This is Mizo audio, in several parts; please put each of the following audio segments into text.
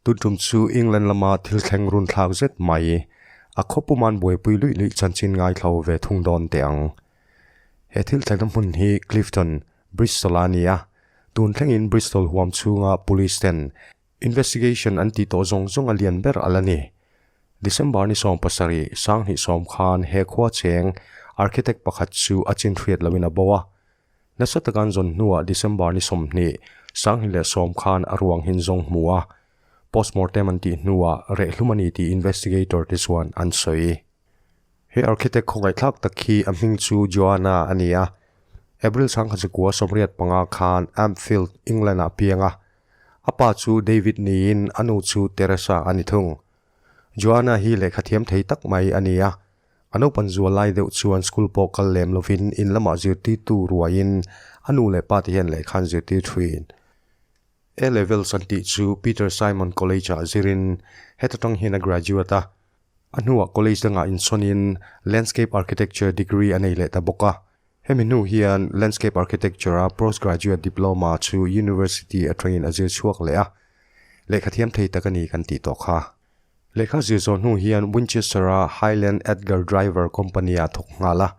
Tuntum chu England lama thil thleng run thlak zet mai a khawpuma'n buaipui luih luih chanchin ngaithlo ve thung dawn teh ang. He thil thleng hmun hi Clifton, Bristol a ni a, tun thlengin Bristol huam chhunga Police ten Investigation an tih tawh zawng zawng a lian ber a la ni. December ni sawm pasarih sang hnih sawm khan he khua cheng architect pakhat chu a chin hriat loin a bo a. Nasa tak an zawn hnuah December ni sawm hnih, sang hnih leh sawm khan a ruang hin zawng hmu a. Postmortem an tih hnuah rehhlum a ni tih investigator te chuan an sawi. He architect khawngaihthlak tak hi a hming chu Joanna a ni a. April sangkhat zakua sawmriat panga khan Ampfield, England ah piang a. A pa chu David niin a nu chu Teresa a ni thung. Joanna hi lehkha thiam thei tak mai a ni a. A naupan zual lai deuh chuan school pawh kal lem lovin in lamah zirtirtu ruaiin a nu leh pa te hian lehkha an zirtir thuin A Levels an tih chu Peter Simon College ah zir in heta tang hian a graduate a. A hnuah college dangah insawn in Landscape Architecture degree a nei leh ta bawk a. Hemi hnu hian Landscape Architecture-a Postgraduate Diploma chu University atangin a zir chhuak leh a, lehkha thiam thei tak a ni kan tih tawh kha. Lehkha zir zawh hnu hian Winchester-a Highland Edgar Driver Company-a thawk nghal a,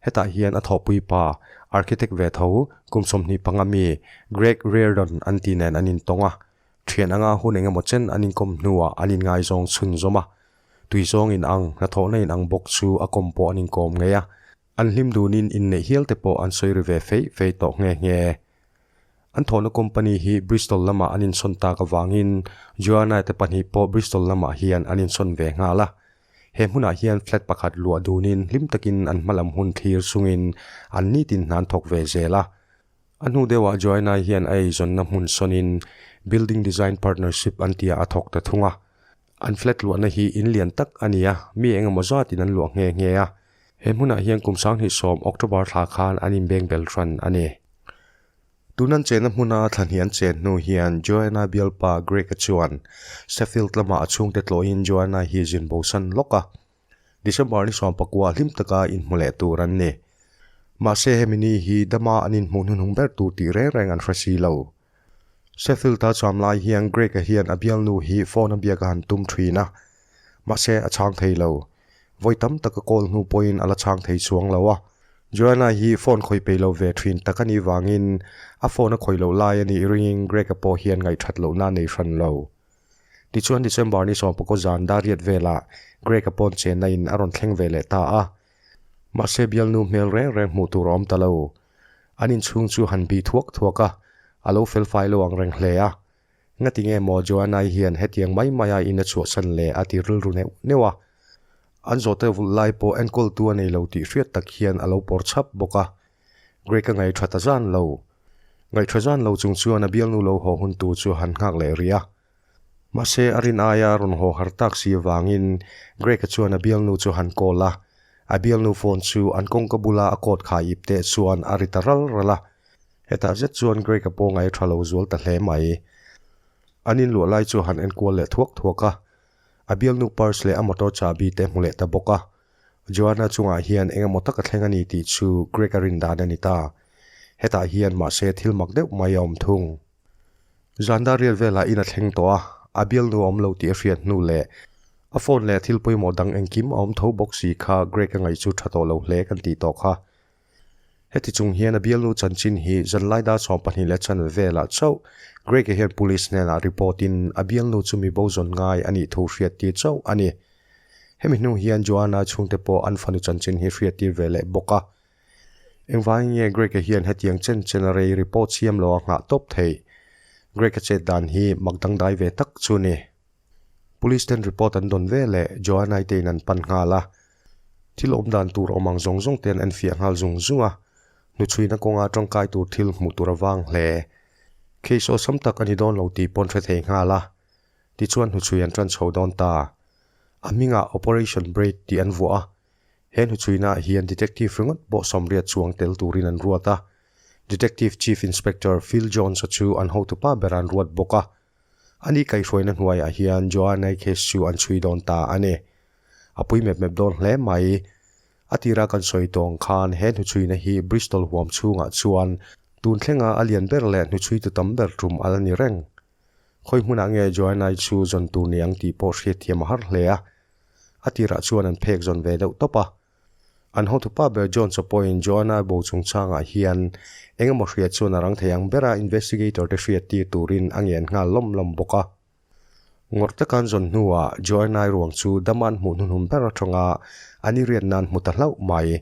hetah hian a thawhpui pa, architect ve tho, kum sawmhnih panga mi Greg Reardon an tih nen an intawng a, thian anga hun eng emaw chen an inkawm hnuah an inngaizawng chhunzawm a, tuizawngin ang, hnathawhna inang bawk chu a kawm pawh an inkawm ngei a, An hlim dunin inneih hialte pawh an sawi ri ve fei fei tawh nghe nghe. An thawhna company hi Bristol lamah an insawn tak avangin Joanna te pahnih pawh Bristol lamah hian an insawn ve nghal a. He hmunah hian flat pakhat luah dunin hlim takin an hmalam hun thlir chungin an nitin hnan thawk ve zel a. A hnu deuhah Joanna hian a eizawnna hmun sawnin Building Design Partnership an tia a thawk ta thung a. An flat luahna hi in lian tak a ni a, mi engemaw zatin an luah nghe nghe a. He hmunah hian kum sanghnih sawm, October, thla khan an inbeng bel hran a ni. Tun an chenna hmuna thlahni an chen hnu hian Joanna bialpa Greg-a chuan Sheffield lama a chhungte tlawhin Joanna hi zin bo san lawk a, December ni sawm pakua hlim taka inhmu leh tur an ni. Mahse, hemi ni hi dama an inhmuh hnuhnung ber tur tih reng reng an hre si lo. Sheffield a cham lai hian Greg-a hian a bialnu hi phone-a biakah han tum ṭhin a, mahse a chhang thei lo. Vawi tam taka call hnu pawhin a la chhang thei chuang lo a. Joanna hi phone khawi peih lo ve ṭhin tak a nih vangin a phone a khawi loh lai a nih ringin Greg-a pawh hian ngaihthat lohna a nei hran lo. Tichuan December ni sawmpakhaw zan dariat velah Greg-a pawn chenna in a rawn thleng ve leh ta a, mahse bialnu hmel reng reng hmuh tur a awm ta lo. An inchhung chu han bih thuak thuak a, a lo fel fai lo ang reng hle a. Ngati nge maw Joanna-i hian hetiang mai maia in a chhuahsan le? a ti rilru neuh neuh a. An zawhte vulh lai pawh enkawl tu a nei lo tih hriat tak hian a lo pawr chap bawk a. Greg-a ngaihṭha ta zan lo. Ngaihṭha zan lo chung chuan a bialnu lo haw hun tur chu han nghak leh ri a. Mahse, a rin aia rawn haw har tak si avangin Greg-a chuan a bialnu chu han call a. A bialnu phone chu an kawngka bula a cord khai ip teh chuan a ri ta ral ral a. Hetah zet chuan Greg-a pawngai tha lo zual ta hle mai. An inluah lai chu han enkual leh thuak thuak a. A bialnu purse leh a motor chabi te hmu leh ta bawk a. Joanna chungah hian engemaw taka thleng a ni tih chu Greg-a rin dan a ni ta. Hetah hian mahse thil mak deuh mai a awm thung. Zanda riat velah in a thleng tawh a, a bialnu a awm lo tih a hriat hnu leh a phone leh thil pawimawh dang engkim a awm tho bawk si kha Greg a ngaih chu tha tawh lo hle kan tih tawh kha. Heti chung hian a bialnu chanchin hi zanlaida chhawng pahnih leh chanve velah chauh Greg-a hian police hnenah report in a bialnu chu mibo zawn ngai a nih thu hriat tir chauh a ni. Hemi hnu hian Joanna-i chhungte pawh an fanu chanchin hi hriat tir ve leh bawk a. Engvângin nge Greka hian hetiang chen chena rei ri pawh chhiam lo a nghah tawp theih? Greka chet dan hi mak dangdai ve tak chu ni. Police ten report an dawn ve leh Joannae te in an pan nghal a, thil awm dan tur awm ang zawng zawng te'n an fiah nghal zung zung a, hnuchhuina kawnga tangkai tur thil hmuh tur a vang hle. Case awesome tak a ni dawn lo tih pawn hre thei nghal a, tichuan hnuchhui an ṭan chho dawn ta. A hmingah Operation Break tih an vuah a, He hnuchhuinaah hian Detective ringawt pawh sawmriat chuang tel turin an ruat a. Detective Chief Inspector Phil Jones-a chu an hotupa berah an ruat bawk a. A ni kaihhruaina hnuaiah hian Joanna-i case chu an chhui dawn ta a ni. A pui mep mep dawn hle mai. A tira kan sawi tawng khan he hnuchhuina hi Bristol huam chhungah chuan tun thlenga a lian ber leh hnuchhui tu tam ber tum alh a ni reng. Khawi hmunah nge Joanna-i chu zawn tur ni ang tih pawh hriatthiam a har hle a. A tirah chuan an phek zawn ve deuh tawp a. An hawnthupa ber John chaw pawhin Joanna bo chung changah hian engemaw hriat chuan a rang thei ang ber a, investigator-te hriat tir turin a ngen nghal lawm lawm bawk a. Ngawr tak an zawn hnuah Joanna-i ruang chu Dama'n hmuh hnuhnum ber atanga an i riat nan hmu ta hlauh mai.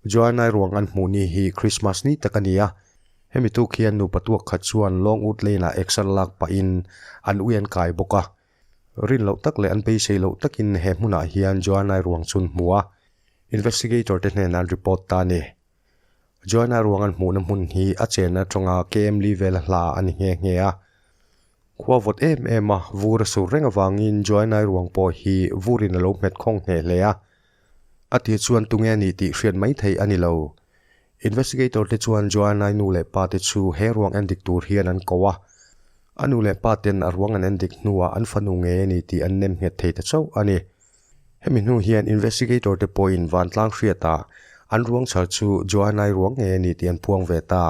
Joanna-i ruang an hmuh ni hi Krismas ni tak a ni a, hemi tuk hian nupa tuak khat chuan Longwood Lane-ah action lak pahin an uian kai bawk a. Rin loh tak leh an beisei loh takin he hmunah hian Joanna-i ruang chun hmu a, investigator-te hnenah an report ta a ni. Joanna ruang an hmuhna hmun hi a chen atanga KMLI vela hla a ni nghe nghe a. Khua vawt em em a vur a sur reng avangin Joanna-i ruang pawh hi vurin a lo hmet khawng hneh hle a, A tih chuan tunge nih tih hriat mai theih a ni lo. Investigator te chuan Joanna-i nu leh pa te chu he ruang en dik tur hian an ko a. A nu leh pa ten a ruang an en dik hnuah an fanu nge ni tih an nem nghet thei ta chauh a ni. Hemi hnu hian investigator te pawhin vantlang hriatah an ruang chhar chu Joanna-i ruang nge ni tih an phuang ve ta.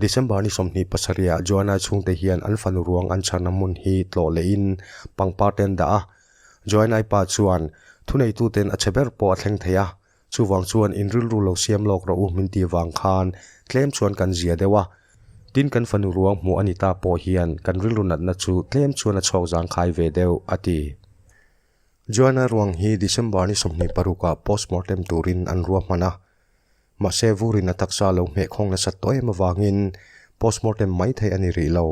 December ni sawmhnih pasarihah Joanna-i chhungte hian an fanu ruang an chhan a hmun hi tlawh lehin pangparte an dah a. Joanna-i pa chuan, Thuneituten a che ber pawh a thleng thei a, chuvang chuan in rilru lo siam lawk rawh u min ti vang khan tlem chuan kan zia deuh a. Tin, kan fanu ruang hmuh a ni ta pawh hian kan rilru natna chu tlem chuan a chhuak zang khai ve deuh, a ti. Joanna-i ruang hi December ni sawmhnih parukah postmortem turin an ruahman a. Mahse, Vurin a taksa lo hmeh khawng nasat tawh em avangin postmortem mai thei a ni rih lo.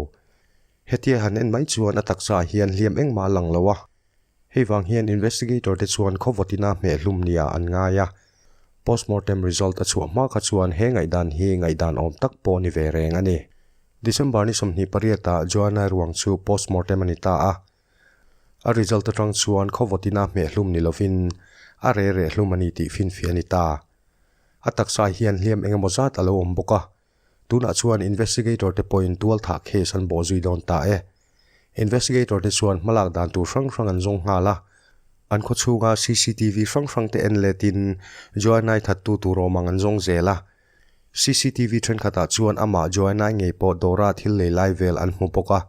Hetia han en mai chuan a taksaah hian hliam engmah a lang lo a. Hei vang hian investigator te chuan khawvawtina hmeh hlum nia an ngai a. Postmortem result a chhuah hma kha chuan he ngaihdan hi ngaihdan awm tak pawh ni ve reng a ni. December ni sawmhnih pariatah Joanna ruang chu postmortem a ni ta a. A result atang chuan khawvawt ina hmehhlum ni lovin a re reh hlum a ni tih finfi a ni ta. A taksa hian hliam eng emaw zat a lo awm bawk a. Tunah chuan investigator te pawhin tual thah case an bawh zui dawn ta e. Investigator te chuan hma lak dan tur hrang hrang an zawng nghal a. An khawchhunga CCTV hrang hrang te en letin Joanne-i thattu tur awm ang an zawng zel a. CCTV thenkhatah chuan amah Joanna-i ngei pawh dawra thil lei lai vel an hmu bawk a.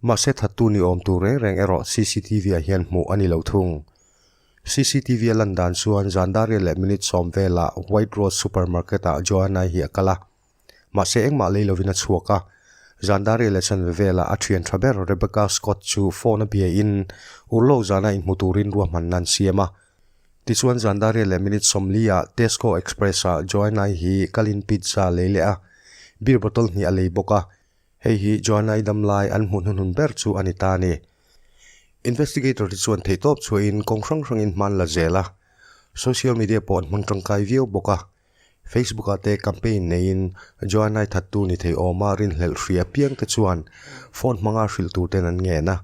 Mahse thattu ni awm tur reng reng erawh CCTV-ah hian hmuh a ni lo thung. CCTV-a lan dan chuan zan daria leh minute sawm vela White Rose Supermarket-ah Joanna-i hi a kal a. Mahse engmah lei lovin a chhuak a. Zan daria leh chanve vela a thian tha ber Rebecca Scott chu phone a biain ur lo zana inhmu turin ruahmanna an siam a. Tichuan zandaria leh minute sawmlia Tesco Express ah Joanna-i hi kalin pizza a lei leh a, beer bottle hnih a lei bawk a. Hei hi Joanna-i dam lai an hmuhnawh hun ber chu a ni ta a ni. Investigator te chuan theihtawp chhuahin kawng hrang hrangin hman la zel a, social media pawh an hmang tangkai viau bawk a. Facebook ah te campaign neiin Joanna-i thattu ni thei awma rinhlelh hri apiang te chuan phone hmanga hrilh tur ten an ngen a.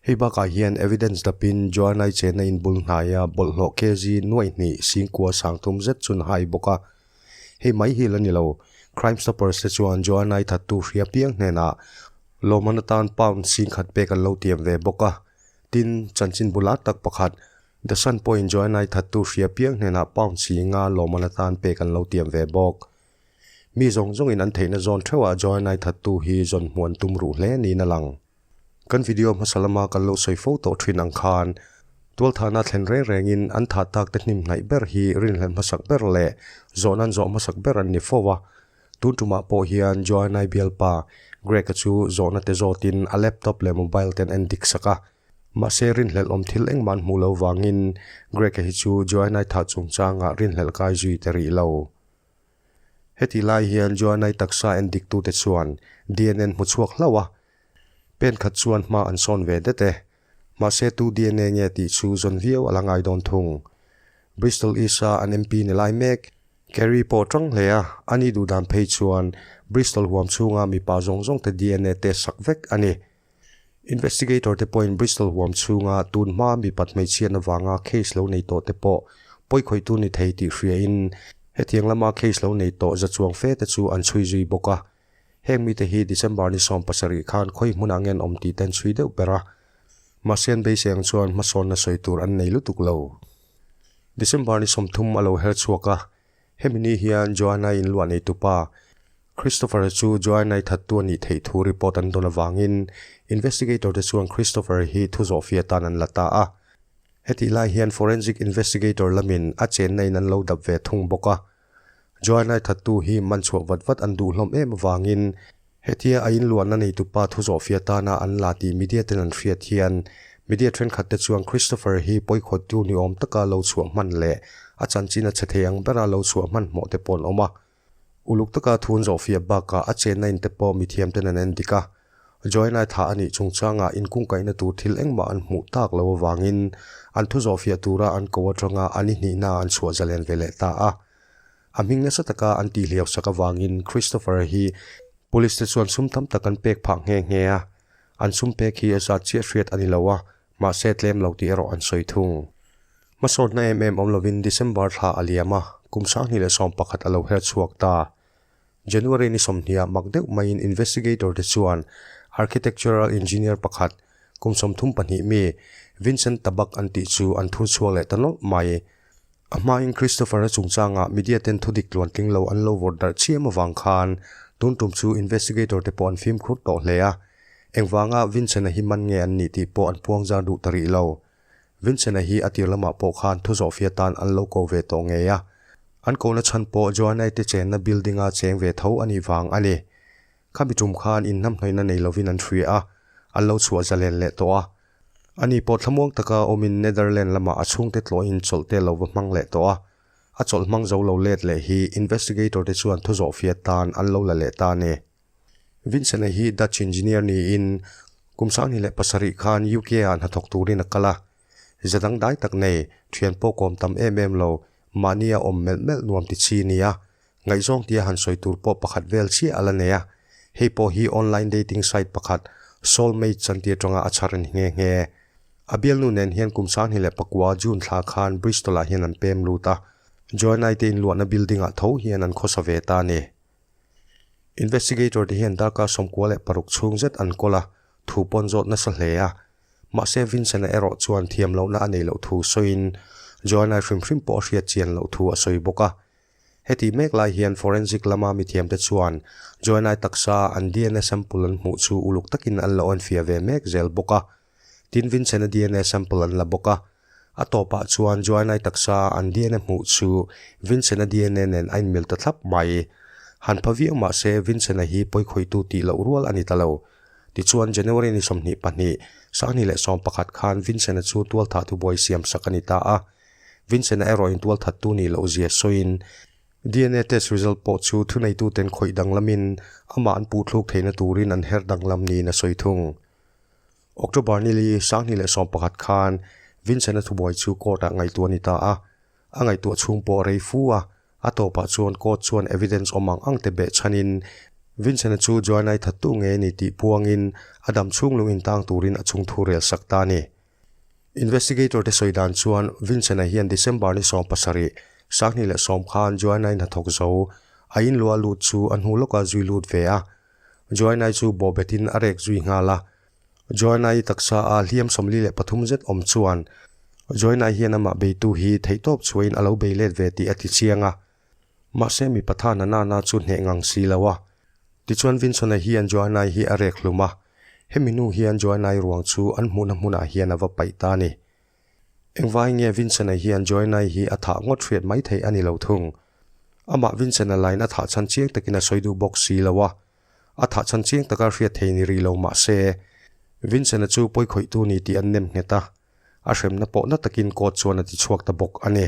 Hei bakah hian evidence dapin Joanna-i chenna in bul hnaia bawlhhlawh KG nuaih hnih singkua sang thum zet chun a hai bawk a. Hei mai hi la ni lo, Crime Stoppers te chuan Joanna-i thattu hri apiang hnenah lawmman atan pound singkhat pek an lo tiam ve bawk a. Tin, chanchin bula tak pakhat The Sun pawhin Joanna-i thattu hria piang hnenah pound si nga lawmman atan pek an lo tiam ve bawk. Mi zawng zawngin an theihna zawn theuhah Joanna-i thattu hi zawn hmuh an tum ruh hle niin a lang. Kan video hmasa lama kan lo sawi fo tawh thin ang khan, tualthanah thlen reng rengin an thah takte hnim hnaih ber hi rinhlelh hmasak ber leh zawh nan zawh hmasak ber an ni fo a. Tun tumah pawh hian Joanna-i bialpa Greg-a chu zawhnate zawtin a laptop leh mobile te an en dik sak a. Mahse, rinhlelh awm thil engmahn hmuh loh vangin Greka hi chu Joannae thah chungchangah rinhlelh kai zui ta rih lo. Heti lai hian Joannae taksa en diktute chuan dna-n hmu chhuak hlauh a, pen khat chuan hma an sawn ve det e. Mahse, tu dna nge tih chu zawn viau a la ngai dawn thung. Bristol East-a an MP ni lai mek, Kerry pawh ṭang hle a, ani duhdan phei chuan Bristol huam chhunga mipa zawng zawngte dna test sak vek a ni. Investigator te pawhin Bristol huam chhunga tun hmaa mipat hmeichhian avanga case lo nei tawh te pawh pawikhawihtu ni thei tih hriain hetiang lama case lo nei tawh za chuang fe te chu an chhui zui bawk a. Heng mite hi December ni sawm pasarih khan khawi hmun ah ngen awm tih te an chhui deuh ber a. Mahse an beiseng chuan hmasawnna sawi tur an nei lutuk lo. December ni sawm thum a lo her chhuak a, Hemi ni hian Joanna-i inluah nei tupa Christopher chu Joanna-i thattu a nih theih thu report an dawn avangin investigator te chuan Christopher hi thu zawh fia tan an la ta a. Hetih lai hian forensic investigator lamin a chenna in an lo dap ve thung bawk a. Joanna-i thattu hi man chhuah vat vat an duhhlawm em avangin Hetia a inluanna neitu pa thu zawh fiah tana an la tih media ten an hriat hian media thenkhat te chuan Christopher hi pawikhawttu ni awm taka lo chhuah hman leh a chanchin a chhe thei ang bera lo chhuah hman hmuh te paw'n awm a. Uluk taka thu an zawh fiah bakah a chenna in te pawh mithiam ten an en dik a. Joanna-i tha a nih chung changa in kungkaihna tur thil engmah an hmuh tak lo avangin an thu zawh fiah tura an ko atanga an i hnihna an chhuah zalian ve leh ta a. A hming nasa taka an tih hliausak avangin Christopher hi Police-te chuan sum tam tak an pek phah nghe nghe a. An sum pek hi zat chiah hriat a ni lo a, mahse tlem lo tih erawh an sawi thung. Hmasawrhna em em awm lovin December thla a liam a, kum sanghnih leh sawm pakhat a lo herchhuak ta. January ni sawmhniah mak deuh maiin investigator-te chuan architectural engineer pakhat, kum sawmthum pahnih mi, Vincent Tabak an tih chu an thur chhuak leh ta nawlh mai. A hmain Christopher-a chungchangah media-ten thudik tluantling lo an lo vawt darh chiam avang khan tun tum chu investigator-te pawh an fimkhur tawh hle a. Engvanga Vincent-a hi man nge an nih tih pawh an puangzar duh ta rih lo. Vincent-a hi a tir lamah pawh khan thu zawh fiah tan an lo ko ve tawh ngei a. An kona chhan pawh Joanna-ite chenna building-a cheng ve tho a nih vang a ni. Khami tum khan in hnamhnawihna nei lovin an hria a, an lo chhuah zalen leh tawh a. A ni pawh thlamuang taka awmin Netherland lamah a chhungte tluahin chawlh te lo va hmang leh tawh a. A chawlh hmang zo lo let leh hi investigator-te chuan thu zawh fiah tan an lo la leh ta a ni. Vincent-a hi Dutch engineer niin kum sanghnih leh pasarih khan UK-a hnathawk turin a kal a. Zet ang dai tak nei, thian pawh kawm tam em em lo, mahni a awm melh melh nuam ti chi nia, ngaihzawng tia han sawi tur pawh pakhat vel chiah a la nei a. Hei pawh hi online dating site pakhat, soulmate chan ti atanga a chhar a ni nghe nghe. A bialnu nen hian kum sanghnih leh pakua June thla khan Bristol-ah hian an pem lut a, Joanne-a te inluahna building-ah tho hian an khawsa ve ta a ni. Investigator te hian Dark-a sawmkua leh paruk chhung zet an kawl a, thu pawn zawt nasa hle a. Mahse, Vincent-a erawh chuan thiam lohna a nei loh thu sawiin, Joanna-i hrim hrim pawh a hriat chian loh thu a sawi bawk a. Heti mek lai hian forensic lama mithiamte chuan Joanna-i taksa an DNA sample an hmuh chu uluk takin an la awnfia ve mek zel bawk a. Tin, Vincent-a dna sample an la bawk a. A tawpah chuan Joanna-i taksa an dna hmuh chu Vincent-a dna nen a inmil ta thlap mai. Han pha viau mah se, Vincent-a hi pawikhawitu tih loh rual a ni ta lo. Tichuan, January ni sawmhnih pahnih, sanghnih leh sawm pakhat khan Vincent-a chu tualthathu buai siam sak a ni ta a. Vincent-a erawh intualthattu nih loh zia sawiin, dna test result pawh chu thuneituten khawih danglamin amah an puhthluk theihna turin an her danglam niin a sawi thung. October nili Sanghni leh Sawm pakhat khan Vincent-a thubuai chu court-ah ngaihtuah a ni ta a. A ngaihtuah chhung pawh a rei fu a. A tawpah chuan court chuan evidence awm ang angte beh chhanin Vincent-a chu Joanna-i thattu nge ni tih puangin a dam chhung lung intang turin a chhung thu rel sak ta a ni. Investigator-te sawi dan chuan Vincent-a hian December ni sawm pasarih, Sanghni leh Sawm khan Joanna-i hnathawk zo, a inluah lut chu a hnu lawkah a zui lut ve a. Joanna-i chu bawhbetin a rek zui nghal a. Joanna-i taksa a hliam sawmli leh pathum zet awm chuan Joanna-i hian amah beitu hi theihtawp chhuain a lo bei let ve tih a ti chiang a. Mahse mipa tha na nana chu hneh ngang si lo a. Tichuan Vinson-a hian Joanna-i hi a rek hlum a. Hemi nu hian Joanna-i ruang chu an hmuhna hmunah hian a va paih ta a ni. Engvai nge Vincent-a hian Joanna-i hi a thah ngawt hriat mai thei a ni lo thung? Amah Vincent-a lain a thah chhan chiang takin a sawi duh bawk si lo a, a thah chhan chiang taka hriat thei ni rih lo mahse, Vincent-a chu pawi khawih tu ni tih an nem nghet a, a hremna pawh na takin kawt chuan a ti chhuak ta bawk a ni.